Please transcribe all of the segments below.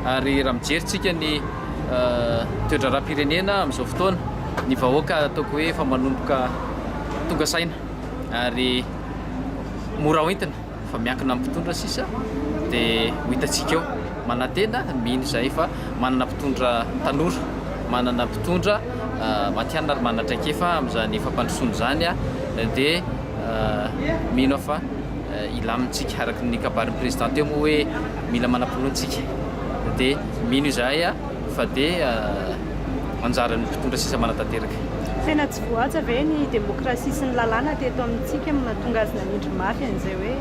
Ary raha mijery tsika ny toedraharaha-pirenena amin'izao fotoana, ny vahoaka ataoko hoe efa manomboka tonga saina ary mora hoentina fa miankina amin'ny mpitondra sisa dia ho hitantsika eo. Manantena, mino izahay fa manana mpitondra tanora, manana mpitondra matihanina ary manana traikefa amin'izany fampandrosoana izany dia mino aho fa. hilamintsika araka ny kabarin'ny président teo moa hoe mila manam-pinoana isika dia mino izahay fa dia anjaran'ny mpitondra sisa manatanteraka. Tena tsy voahaja ve ny demokrasia sy ny lalàna teto amintsika no nahatonga azy nanindry mafy an'izay hoe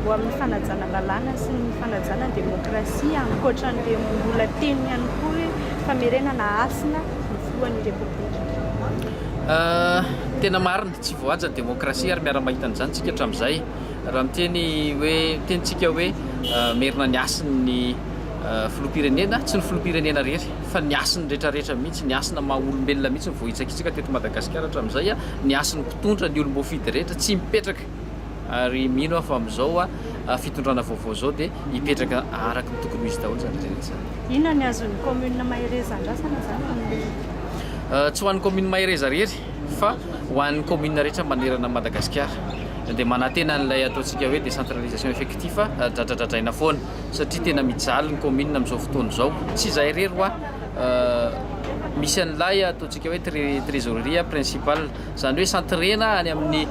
ho amin'ny fanajana lalàna sy ny fanajana ny demokrasia ankoatran'ilay mbola teny ihany koa hoe famerenana hasina ny filohan'ny repoblika? Tena marina. Tsy voahaja ny demokrasia ary miara-mahita an'izany isika hatramin'izay. Raha miteny hoe, miteny isika hoe merina ny hasin'ny filoham-pirenena, tsy ny filoham-pirenena irery fa ny hasin'ny rehetrarehetra mihitsy, ny hasina maha olombelona mihitsy no voahitsakitsaka teto Madagasikara hatramin'izay, ny hasin'ny mpitondra, ny olom-boafidy rehetra tsy mipetraka ary mino aho fa amin'izao fitondrana vaovao izao dia hipetraka araka ny tokony ho izy daholo izany rehetra izany. Inona ny azon'ny kaominina Mahereza andrasana izany amin'io? Tsy ho an'ny kaominina Mahereza irery. fa ho an'ny commune rehetra manerana an'i Madagasikara dia manantena an'ilay ataontsika hoe décentralisation effectif dradradradraina foana satria tena mijaly ny commune amin'izao fotoana izao, tsy izahay irery hoa misy an'ilay ataontsika hoe trésorerie principal izany hoe centrena any amin'ny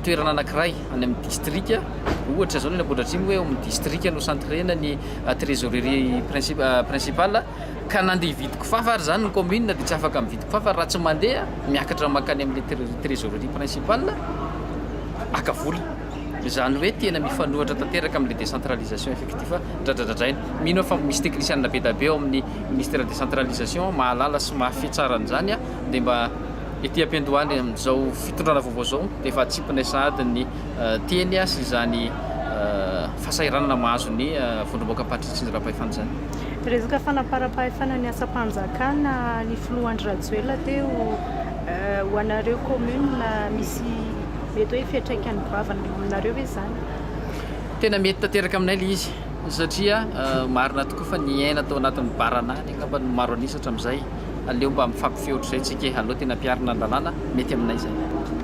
toerana anankiray any amin'ny district ohatra izao ny any Ambohidratrimo hoe ao amin'ny district no centrena ny trésorerie principal. ka na andeha hividy kifafa ary izany ny kaominina dia tsy afaka mividy kifafa raha tsy mandeha miakatra mankany amin'ny trésorerie principale maka vola. Izany hoe tena mifanohitra tanteraka amin'ilay décentralisation effectif dradradradraina. Mino aho fa misy teknisianina be dia be ao amin'ny Ministère décentralisation mahalala sy mahafehy tsara an'izany dia mba ety am-piandohany amin'izao fitondrana vaovao izao dia efa atsipinay sahady ny teny sy izany fahasahiranana mahazo ny vondrombaoka Ampatrisitry ny Rapaifana izany. Resaka fanamparam-pahefana ny asam-panjakana ny filoha Andry Rajoelina teo ho anareo commune misy mety hoe fiantraikany goavana eo aminareo ve izany? Tena mety tanteraka aminay ilay izy satria marina tokoa fa niaina tao anatin'ny baranany angamba ny maro an'isa hatramin'izay. Aleo mba mifampifehy ohatr'izay tsika e, aleo tena ampiharina ny lalàna, mety aminay izay.